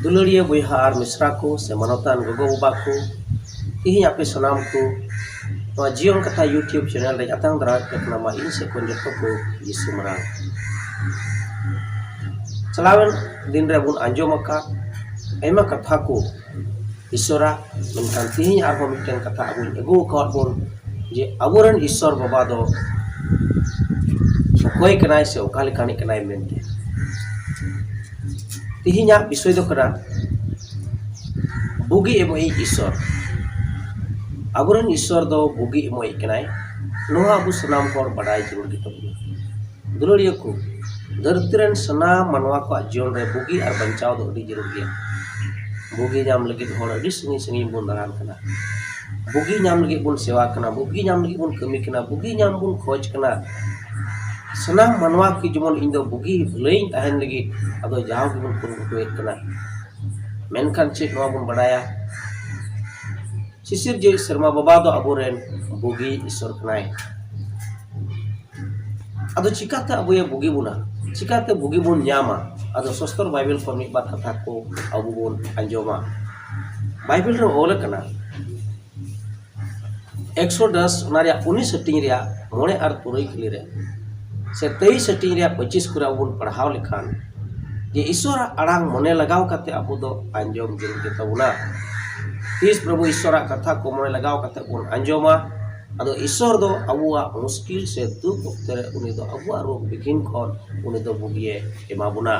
ᱫᱩᱞᱟᱹᱲᱤᱭᱟᱹ ᱵᱚᱭᱦᱟ ᱟᱨ ᱢᱤᱥᱨᱟ ᱠᱚ ᱥᱮ ᱢᱟᱱᱚᱛᱟᱱ ᱜᱚᱜᱚ ᱵᱟᱵᱟ ᱠᱚ ᱛᱮᱦᱮᱧ ᱟᱯᱮ ᱥᱟᱱᱟᱢ ᱠᱚ ᱱᱚᱣᱟ ᱡᱤᱭᱚᱱ ᱠᱟᱛᱷᱟ ᱤᱭᱩᱴᱩᱵᱽ ᱪᱮᱱᱮᱞ ᱨᱮ ᱟᱛᱟᱝ ᱫᱟᱨᱟᱢ ᱯᱮ ᱠᱟᱱᱟ ᱢᱟ ᱤᱧ ᱥᱮᱫ ᱠᱷᱚᱱ ᱡᱚᱛᱚ ᱠᱚ ᱡᱤᱥᱩ ᱢᱟᱨᱟᱝ ᱪᱟᱞᱟᱣᱮᱱ ᱫᱤᱱ ᱨᱮᱵᱚᱱ ᱟᱸᱡᱚᱢᱟᱠᱟᱫ ᱟᱭᱢᱟ ᱠᱟᱛᱷᱟ ᱠᱚ ᱤᱥᱥᱚᱨᱟᱜ ᱢᱮᱱᱠᱷᱟᱱ ᱛᱮᱦᱤᱧ ᱟᱨᱦᱚᱸ ᱢᱤᱫᱴᱮᱱ ᱠᱟᱛᱷᱟ ᱟᱵᱚᱭ ᱟᱹᱜᱩ ᱟᱠᱟᱫ ᱵᱚᱱ ᱡᱮ ᱟᱵᱚ ᱨᱮᱱ ᱤᱥᱥᱚᱨ ᱵᱟᱵᱟ ᱫᱚ ᱚᱠᱚᱭ ᱠᱟᱱᱟᱭ ᱥᱮ ᱚᱠᱟ ᱞᱮᱠᱟᱱᱤᱡ ᱠᱟᱱᱟᱭ ᱢᱮᱱᱛᱮ ᱛᱮᱦᱤᱧᱟᱜ ᱵᱤᱥᱚᱭ ᱫᱚ ᱠᱟᱱᱟ ᱵᱩᱜᱤ ᱮᱢᱚᱜᱤᱡ ᱤᱥᱥᱚᱨ ᱟᱵᱚ ᱨᱮᱱ ᱤᱥᱥᱚᱨ ᱫᱚ ᱵᱩᱜᱤ ᱮᱢᱚᱜᱤᱡ ᱠᱟᱱᱟᱭ ᱱᱚᱣᱟ ᱟᱵᱚ ᱥᱟᱱᱟᱢ ᱦᱚᱲ ᱵᱟᱰᱟᱭ ᱡᱟᱹᱨᱩᱲ ᱜᱮᱛᱟᱵᱚᱱᱟ ᱫᱩᱞᱟᱹᱲᱤᱭᱟᱹ ᱠᱚ ᱫᱷᱟᱹᱨᱛᱤ ᱨᱮᱱ ᱥᱟᱱᱟᱢ ᱢᱟᱱᱣᱟ ᱠᱚᱣᱟᱜ ᱡᱤᱭᱚᱱ ᱨᱮ ᱵᱩᱜᱤ ᱟᱨ ᱵᱟᱧᱪᱟᱣ ᱫᱚ ᱟᱹᱰᱤ ᱡᱟᱹᱨᱩᱲ ᱜᱮᱭᱟ ᱵᱩᱜᱤ ᱧᱟᱢ ᱞᱟᱹᱜᱤᱫ ᱦᱚᱲ ᱟᱹᱰᱤ ᱥᱟᱺᱜᱤᱧ ᱥᱟᱺᱜᱤᱧ ᱵᱚᱱ ᱫᱟᱬᱟᱱ ᱠᱟᱱᱟ ᱵᱩᱜᱤ ᱧᱟᱢ ᱞᱟᱹᱜᱤᱫ ᱵᱚᱱ ᱥᱮᱵᱟ ᱠᱟᱱᱟ ᱵᱩᱜᱤ ᱧᱟᱢ ᱞᱟᱹᱜᱤᱫ ᱵᱚᱱ ᱠᱟᱹᱢᱤ ᱠᱟᱱᱟ ᱵᱩᱜᱤ ᱧᱟᱢ ᱵᱚᱱ ᱠᱷᱚᱡᱽ ᱠᱟᱱᱟ ᱥᱟᱱᱟᱢ ᱢᱟᱱᱣᱟ ᱠᱚ ᱡᱮᱢᱚᱱ ᱤᱧ ᱫᱚ ᱵᱩᱜᱤ ᱵᱷᱟᱹᱞᱟᱹᱭᱤᱧ ᱛᱟᱦᱮᱱ ᱞᱟᱹᱜᱤᱫ ᱟᱫᱚ ᱡᱟᱣ ᱜᱮᱵᱚᱱ ᱠᱩᱨᱩᱢᱩᱴᱩᱭᱮᱫ ᱠᱟᱱᱟ ᱢᱮᱱᱠᱷᱟᱱ ᱪᱮᱫ ᱱᱚᱣᱟ ᱵᱚᱱ ᱵᱟᱰᱟᱭᱟ ᱥᱤᱥᱤᱨᱡᱟᱹᱣᱤᱡ ᱥᱮᱨᱢᱟ ᱵᱟᱵᱟ ᱫᱚ ᱟᱵᱚ ᱨᱮᱱ ᱵᱩᱜᱤᱭᱤᱡ ᱤᱥᱥᱚᱨ ᱠᱟᱱᱟᱭ ᱟᱫᱚ ᱪᱤᱠᱟᱹᱛᱮ ᱟᱵᱚ ᱮ ᱵᱩᱜᱤ ᱵᱚᱱᱟ ᱪᱤᱠᱟᱹᱛᱮ ᱵᱩᱜᱤ ᱵᱚᱱ ᱧᱟᱢᱟ ᱟᱫᱚ ᱥᱚᱥᱛᱚᱨ ᱵᱟᱭᱵᱮᱞ ᱠᱷᱚᱱ ᱢᱤᱫ ᱵᱟᱨ ᱠᱟᱛᱷᱟ ᱠᱚ ᱟᱵᱚ ᱵᱚᱱ ᱟᱸᱡᱚᱢᱟ ᱵᱟᱭᱵᱮᱞ ᱨᱮ ᱚᱞ ᱠᱟᱱᱟ ᱮᱠᱥᱚ ᱫᱚᱥ ᱚᱱᱟ ᱨᱮᱭᱟᱜ ᱩᱱᱤᱥ ᱦᱟᱹᱴᱤᱧ ᱨᱮᱭᱟᱜ ᱢᱚᱬᱮ ᱟᱨ ᱛᱩᱨᱩᱭ ᱠᱩᱲᱤ ᱨᱮ ᱥᱮ ᱛᱮᱭᱤᱥ ᱦᱟᱹᱴᱤᱧ ᱨᱮᱭᱟᱜ ᱯᱚᱸᱪᱤᱥ ᱠᱚᱨᱮ ᱟᱵᱚ ᱵᱚᱱ ᱯᱟᱲᱦᱟᱣ ᱞᱮᱠᱷᱟᱱ ᱡᱮ ᱤᱥᱥᱚᱨᱟᱜ ᱟᱲᱟᱝ ᱢᱚᱱᱮ ᱞᱟᱜᱟᱣ ᱠᱟᱛᱮ ᱟᱵᱚ ᱫᱚ ᱟᱸᱡᱚᱢ ᱡᱟᱹᱨᱩᱲ ᱜᱮᱛᱟᱵᱚᱱᱟ ᱛᱤᱥ ᱯᱨᱚᱵᱷᱩ ᱤᱥᱥᱚᱨᱟᱜ ᱠᱟᱛᱷᱟ ᱠᱚ ᱢᱚᱱᱮ ᱞᱟᱜᱟᱣ ᱠᱟᱛᱮ ᱵᱚᱱ ᱟᱸᱡᱚᱢᱟ ᱟᱫᱚ ᱤᱥᱥᱚᱨ ᱫᱚ ᱟᱵᱚᱣᱟᱜ ᱢᱩᱥᱠᱤᱞ ᱥᱮ ᱫᱩᱠ ᱚᱠᱛᱮ ᱨᱮ ᱩᱱᱤ ᱫᱚ ᱟᱵᱚᱣᱟᱜ ᱨᱳᱜᱽ ᱵᱤᱜᱷᱤᱱ ᱠᱷᱚᱱ ᱩᱱᱤ ᱫᱚ ᱵᱩᱜᱤᱭᱮ ᱮᱢᱟ ᱵᱚᱱᱟ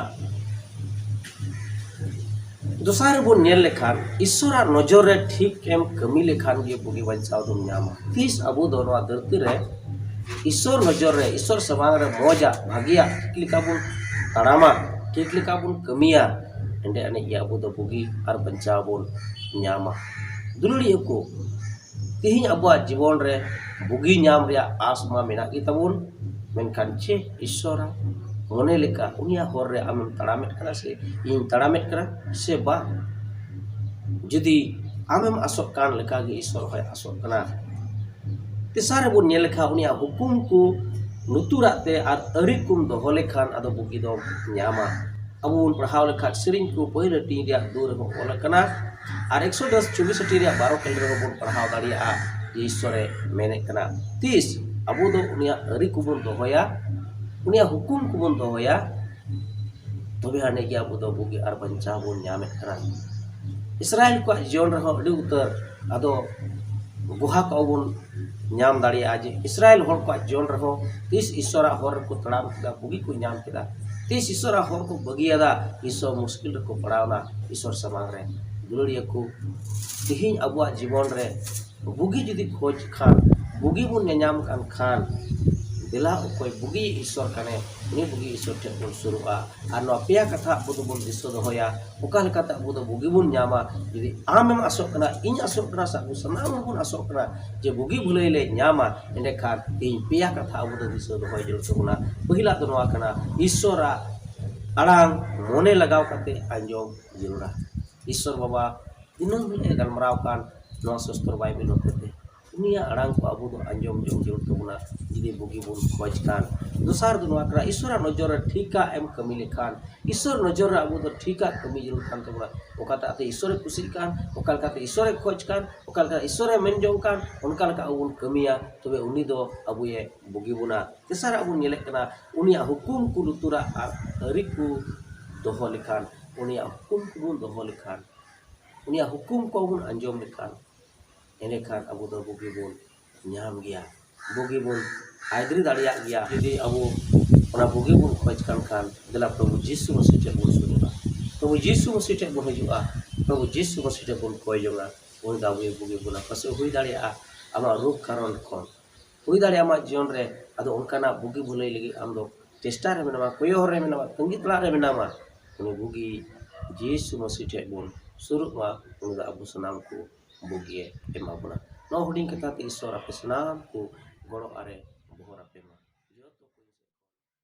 ᱫᱚᱥᱟᱨ ᱨᱮᱵᱚᱱ ᱧᱮᱞ ᱞᱮᱠᱷᱟᱱ ᱤᱥᱥᱚᱨᱟᱜ ᱱᱚᱡᱚᱨ ᱨᱮ ᱴᱷᱤᱠ ᱮᱢ ᱠᱟᱹᱢᱤ ᱞᱮᱠᱷᱟᱱ ᱜᱮ ᱵᱩᱜᱤ ᱵᱟᱧᱪᱟᱣ ᱫᱚᱢ ᱧᱟᱢᱟ ᱛᱤᱥ ᱟᱵᱚ ᱫᱚ ᱱᱚᱣᱟ ᱫᱷᱟᱹᱨᱛᱤ ᱨᱮ ᱤᱥᱥᱚᱨ ᱱᱚᱡᱚᱨ ᱨᱮ ᱤᱥᱥᱚᱨ ᱥᱟᱢᱟᱝ ᱨᱮ ᱢᱚᱡᱟᱜ ᱵᱷᱟᱜᱮᱭᱟᱜ ᱴᱷᱤᱠ ᱞᱮᱠᱟ ᱵᱚᱱ ᱛᱟᱲᱟᱢᱟ ᱴᱷᱤᱠ ᱞᱮᱠᱟ ᱵᱚᱱ ᱠᱟᱹᱢᱤᱭᱟ ᱮᱸᱰᱮ ᱟᱹᱱᱤᱡ ᱜᱮ ᱟᱵᱚ ᱫᱚ ᱵᱩᱜᱤ ᱟᱨ ᱵᱟᱧᱪᱟᱣ ᱵᱚᱱ ᱧᱟᱢᱟ ᱫᱩᱞᱟᱹᱲᱤᱭᱟᱹ ᱠᱚ ᱛᱮᱦᱮᱧ ᱟᱵᱚᱣᱟᱜ ᱡᱤᱵᱚᱱ ᱨᱮ ᱵᱩᱜᱤ ᱧᱟᱢ ᱨᱮᱭᱟᱜ ᱟᱸᱥ ᱢᱟ ᱢᱮᱱᱟᱜ ᱜᱮ ᱛᱟᱵᱚᱱ ᱢᱮᱱᱠᱷᱟᱱ ᱪᱮᱫ ᱤᱥᱥᱚᱨᱟᱜ ᱢᱚᱱᱮ ᱞᱮᱠᱟ ᱩᱱᱤᱭᱟᱜ ᱦᱚᱨ ᱨᱮ ᱟᱢᱮᱢ ᱛᱟᱲᱟᱢᱮᱫ ᱠᱟᱱᱟ ᱥᱮ ᱤᱧ ᱛᱟᱲᱟᱢᱮᱫ ᱠᱟᱱᱟ ᱥᱮ ᱵᱟᱝ ᱡᱩᱫᱤ ᱟᱢᱮᱢ ᱟᱸᱥᱚᱜ ᱠᱟᱱ ᱞᱮᱠᱟ ᱜᱮ ᱤᱥᱥᱚᱨ ᱦᱚᱸᱭ ᱟᱸᱥᱚᱜ ᱠᱟᱱᱟ ᱛᱮᱥᱟᱨ ᱨᱮᱵᱚᱱ ᱧᱮᱞ ᱞᱮᱠᱷᱟᱱ ᱩᱱᱤᱭᱟᱜ ᱦᱩᱠᱩᱢ ᱠᱚ ᱞᱩᱛᱩᱨᱟᱜ ᱛᱮ ᱟᱨ ᱟᱹᱨᱤ ᱠᱚᱢ ᱫᱚᱦᱚ ᱞᱮᱠᱷᱟᱱ ᱟᱫᱚ ᱵᱩᱜᱤ ᱫᱚᱢ ᱧᱟᱢᱟ ᱟᱵᱚ ᱵᱚᱱ ᱯᱟᱲᱦᱟᱣ ᱞᱮᱠᱷᱟᱱ ᱥᱮᱨᱮᱧ ᱠᱚ ᱯᱟᱹᱭᱞᱟᱹᱴᱤ ᱨᱮᱭᱟᱜ ᱫᱩᱣᱟᱹᱨ ᱨᱮᱵᱚᱱ ᱚᱞ ᱟᱠᱟᱱᱟ ᱟᱨ ᱮᱠᱥᱚ ᱫᱚᱥ ᱪᱩᱵᱤᱥᱚᱴᱤ ᱨᱮᱭᱟᱜ ᱵᱟᱨᱚ ᱠᱷᱮᱞ ᱨᱮᱦᱚᱸ ᱵᱚᱱ ᱯᱟᱲᱦᱟᱣ ᱫᱟᱲᱮᱭᱟᱜᱼᱟ ᱡᱮ ᱤᱥᱥᱚᱨᱮ ᱢᱮᱱᱮᱫ ᱠᱟᱱᱟ ᱛᱤᱥ ᱟᱵᱚ ᱫᱚ ᱩᱱᱤᱭᱟᱜ ᱟᱹᱨᱤ ᱠᱚᱵᱚᱱ ᱫᱚᱦᱚᱭᱟ ᱩᱱᱤᱭᱟᱜ ᱦᱩᱠᱩᱢ ᱠᱚᱵᱚᱱ ᱫᱚᱦᱚᱭᱟ ᱛᱚᱵᱮ ᱟᱹᱱᱤᱡ ᱜᱮ ᱟᱵᱚ ᱫᱚ ᱵᱩᱜᱤ ᱟᱨ ᱵᱟᱧᱪᱟᱣ ᱵᱚᱱ ᱧᱟᱢᱮᱫ ᱠᱟᱱᱟ ᱤᱥᱨᱟᱭᱮᱞ ᱠᱚᱣᱟᱜ ᱡᱤᱭᱚᱱ ᱨᱮᱦᱚᱸ ᱟᱹᱰᱤ ᱩᱛᱟᱹᱨ ᱟᱫᱚ ᱜᱩᱦᱟ ᱠᱚᱜᱼᱟ ᱵᱚᱱ ᱧᱟᱢ ᱫᱟᱲᱮᱭᱟᱜᱼᱟ ᱡᱮ ᱤᱥᱨᱟᱭᱮᱞ ᱦᱚᱲ ᱠᱚᱣᱟᱜ ᱡᱤᱭᱚᱱ ᱨᱮᱦᱚᱸ ᱛᱤᱥ ᱤᱥᱥᱚᱨᱟᱜ ᱦᱚᱨ ᱨᱮᱠᱚ ᱛᱟᱲᱟᱢ ᱠᱮᱫᱟ ᱵᱩᱜᱤ ᱠᱚ ᱧᱟᱢ ᱠᱮᱫᱟ ᱛᱤᱥ ᱤᱥᱥᱚᱨᱟᱜ ᱦᱚᱨ ᱠᱚ ᱵᱟᱹᱜᱤᱭᱟᱫᱟ ᱤᱥᱥᱚᱨ ᱢᱩᱥᱠᱤᱞ ᱨᱮᱠᱚ ᱯᱟᱲᱟᱣᱱᱟ ᱤᱥᱥᱚᱨ ᱥᱟᱢᱟᱝ ᱨᱮ ᱫᱩᱞᱟᱹᱲᱤᱭᱟᱹ ᱠᱚ ᱛᱮᱦᱮᱧ ᱟᱵᱚᱣᱟᱜ ᱡᱤᱵᱚᱱ ᱨᱮ ᱵᱩᱜᱤ ᱡᱩᱫᱤ ᱠᱷᱚᱡᱽ ᱠᱷᱟᱱ ᱵᱩᱜᱤ ᱵᱚᱱ ᱧᱮᱧᱟᱢ ᱠᱟᱱ ᱠᱷᱟᱱ ᱫᱮᱞᱟ ᱚᱠᱚᱭ ᱵᱩᱜᱤ ᱤᱥᱥᱚᱨ ᱠᱟᱱᱮ ᱩᱱᱤ ᱵᱩᱜᱤ ᱤᱥᱥᱚᱨ ᱴᱷᱮᱱ ᱵᱚᱱ ᱥᱩᱨᱩᱜᱼᱟ ᱟᱨ ᱱᱚᱣᱟ ᱯᱮᱭᱟ ᱠᱟᱛᱷᱟ ᱟᱵᱚ ᱫᱚᱵᱚᱱ ᱫᱤᱥᱟᱹ ᱫᱚᱦᱚᱭᱟ ᱚᱠᱟ ᱞᱮᱠᱟᱛᱮ ᱟᱵᱚ ᱫᱚ ᱵᱩᱜᱤ ᱵᱚᱱ ᱧᱟᱢᱟ ᱡᱩᱫᱤ ᱟᱢᱮᱢ ᱟᱥᱚᱜ ᱠᱟᱱᱟ ᱤᱧ ᱟᱥᱚᱜ ᱠᱟᱱᱟ ᱥᱮ ᱟᱵᱚ ᱥᱟᱱᱟᱢ ᱦᱚᱲ ᱵᱚᱱ ᱟᱥᱚᱜ ᱠᱟᱱᱟ ᱡᱮ ᱵᱩᱜᱤ ᱵᱷᱟᱹᱞᱟᱹᱭ ᱞᱮ ᱧᱟᱢᱟ ᱮᱸᱰᱮ ᱠᱷᱟᱱ ᱛᱮᱦᱮᱧ ᱯᱮᱭᱟ ᱠᱟᱛᱷᱟ ᱟᱵᱚ ᱫᱚ ᱫᱤᱥᱟᱹ ᱫᱚᱦᱚᱭ ᱡᱟᱹᱨᱩᱲ ᱛᱟᱵᱚᱱᱟ ᱯᱟᱹᱦᱤᱞᱟᱜ ᱫᱚ ᱱᱚᱣᱟ ᱠᱟᱱᱟ ᱤᱥᱥᱚᱨᱟᱜ ᱟᱲᱟᱝ ᱢᱚᱱᱮ ᱞᱟᱜᱟᱣ ᱠᱟᱛᱮ ᱟᱸᱡᱚᱢ ᱡᱟᱹᱨᱩᱲᱟ ᱤᱥᱥᱚᱨ ᱵᱟᱵᱟ ᱫᱤᱱᱟᱹᱢ ᱦᱤᱞᱳᱜ ᱮ ᱜᱟᱞᱢᱟᱨᱟᱣ ᱠᱟᱱ ᱱᱚᱣᱟ ᱥᱚᱥᱛᱚᱨ ᱵᱟᱭᱵᱮᱞ ᱦᱚᱛᱮᱛᱮ ᱩᱱᱤᱭᱟᱜ ᱟᱲᱟᱝ ᱠᱚ ᱟᱵᱚ ᱫᱚ ᱟᱸᱡᱚᱢ ᱡᱚᱝ ᱡᱟᱹᱨᱩᱲ ᱛᱟᱵᱚᱱᱟ ᱡᱩᱫᱤ ᱵᱩᱜᱤ ᱵᱚᱱ ᱠᱷᱚᱡᱽ ᱠᱷᱟᱱ ᱫᱚᱥᱟᱨ ᱫᱚ ᱱᱚᱣᱟ ᱠᱟᱱᱟ ᱤᱥᱥᱚᱨᱟᱜ ᱱᱚᱡᱚᱨ ᱨᱮ ᱴᱷᱤᱠᱟᱜ ᱮᱢ ᱠᱟᱹᱢᱤ ᱞᱮᱠᱷᱟᱱ ᱤᱥᱥᱚᱨ ᱱᱚᱡᱚᱨ ᱨᱮ ᱟᱵᱚ ᱫᱚ ᱴᱷᱤᱠᱟᱜ ᱠᱟᱹᱢᱤ ᱡᱟᱹᱨᱩᱲ ᱠᱟᱱ ᱛᱟᱵᱚᱱᱟ ᱚᱠᱟᱴᱟᱜ ᱛᱮ ᱤᱥᱥᱚᱨᱮ ᱠᱩᱥᱤᱜ ᱠᱟᱱ ᱚᱠᱟ ᱞᱮᱠᱟᱛᱮ ᱤᱥᱥᱚᱨᱮ ᱠᱷᱚᱡᱽ ᱠᱟᱱ ᱚᱠᱟ ᱞᱮᱠᱟᱛᱮ ᱤᱥᱥᱚᱨᱮ ᱢᱮᱱ ᱡᱚᱝ ᱠᱟᱱ ᱚᱱᱠᱟ ᱞᱮᱠᱟ ᱟᱵᱚ ᱵᱚᱱ ᱠᱟᱹᱢᱤᱭᱟ ᱛᱚᱵᱮ ᱩᱱᱤ ᱫᱚ ᱟᱵᱚᱭᱮ ᱵᱩᱜᱤ ᱵᱚᱱᱟ ᱛᱮᱥᱟᱨᱟᱜ ᱵᱚᱱ ᱧᱮᱞᱮᱫ ᱠᱟᱱᱟ ᱩᱱᱤᱭᱟᱜ ᱦᱩᱠᱩᱢ ᱠᱚ ᱞᱩᱛᱩᱨᱟᱜ ᱟᱨ ᱟᱹᱨᱤ ᱠᱚ ᱫᱚᱦᱚ ᱞᱮᱠᱷᱟᱱ ᱩᱱᱤᱭᱟᱜ ᱦᱩᱠᱩᱢ ᱠᱚᱵᱚᱱ ᱫᱚᱦᱚ ᱞᱮᱠᱷᱟᱱ ᱩᱱᱤᱭᱟᱜ ᱦᱩᱠᱩᱢ ᱠᱚᱵᱚᱱ ᱟᱸᱡᱚᱢ ᱞᱮᱠᱷᱟᱱ ᱮᱸᱰᱮᱠᱷᱟᱱ ᱟᱵᱚ ᱫᱚ ᱵᱩᱜᱤ ᱵᱚᱱ ᱧᱟᱢ ᱜᱮᱭᱟ ᱵᱩᱜᱤ ᱵᱚᱱ ᱟᱭᱫᱟᱹᱨᱤ ᱫᱟᱲᱮᱭᱟᱜ ᱜᱮᱭᱟ ᱡᱩᱫᱤ ᱟᱵᱚ ᱚᱱᱟ ᱵᱩᱜᱤ ᱵᱚᱱ ᱠᱷᱚᱡᱽ ᱠᱟᱱ ᱠᱷᱟᱱ ᱫᱮᱞᱟ ᱯᱨᱚᱵᱷᱩ ᱡᱤᱥᱩ ᱢᱟᱹᱥᱤ ᱴᱷᱮᱱ ᱵᱚᱱ ᱥᱩᱨᱩᱜᱼᱟ ᱯᱨᱚᱵᱷᱩ ᱡᱤᱥᱩ ᱢᱟᱹᱥᱤ ᱴᱷᱮᱱ ᱵᱚᱱ ᱦᱤᱡᱩᱜᱼᱟ ᱯᱨᱚᱵᱷᱩ ᱡᱤᱥᱩ ᱢᱟᱹᱥᱤ ᱴᱷᱮᱱ ᱵᱚᱱ ᱠᱚᱭ ᱡᱚᱝᱼᱟ ᱩᱱᱤ ᱫᱚ ᱟᱵᱚᱭ ᱵᱩᱜᱤ ᱵᱚᱱᱟ ᱯᱟᱥᱮᱡ ᱦᱩᱭ ᱫᱟᱲᱮᱭᱟᱜᱼᱟ ᱟᱢᱟᱜ ᱨᱳᱜᱽ ᱠᱟᱨᱚᱱ ᱠᱷᱚᱱ ᱦᱩᱭ ᱫᱟᱲᱮᱭᱟᱜᱼᱟ ᱟᱢᱟᱜ ᱡᱤᱭᱚᱱ ᱨᱮ ᱟᱫᱚ ᱚᱱᱠᱟᱱᱟᱜ ᱵᱩᱜᱤ ᱵᱷᱟᱹᱞᱟᱹᱭ ᱞᱟᱹᱜᱤᱫ ᱟᱢ ᱫᱚ ᱪᱮᱥᱴᱟ ᱨᱮ ᱢᱮᱱᱟᱢᱟ ᱠᱚᱭᱚᱜ ᱦᱚᱨ ᱨᱮ ᱢᱮᱱᱟᱢᱟ ᱛᱟᱺᱜᱤ ᱛᱟᱲᱟᱜ ᱨᱮ ᱢᱮᱱᱟᱢᱟ ᱩᱱᱤ ᱵᱩᱜᱤ ᱡᱤᱥᱩ ᱢᱟᱹᱥᱤ ᱴᱷᱮᱱ ᱵᱚᱱ ᱥᱩᱨᱩᱜ ᱢᱟ ᱩᱱᱤ ᱫᱚ ᱟᱵᱚ ᱥᱟᱱᱟᱢ ᱠᱚ ᱵᱩᱜᱤᱭᱮ ᱮᱢᱟ ᱵᱚᱱᱟ ᱱᱚᱣᱟ ᱦᱩᱰᱤᱧ ᱠᱟᱛᱷᱟ ᱛᱮ ᱤᱥᱥᱚᱨ ᱟᱯᱮ ᱥᱟᱱᱟᱢ ᱠᱚ ᱜᱚᱲᱚ ᱟᱨᱮ ᱵᱚᱦᱚᱨ ᱟᱯᱮ ᱢᱟ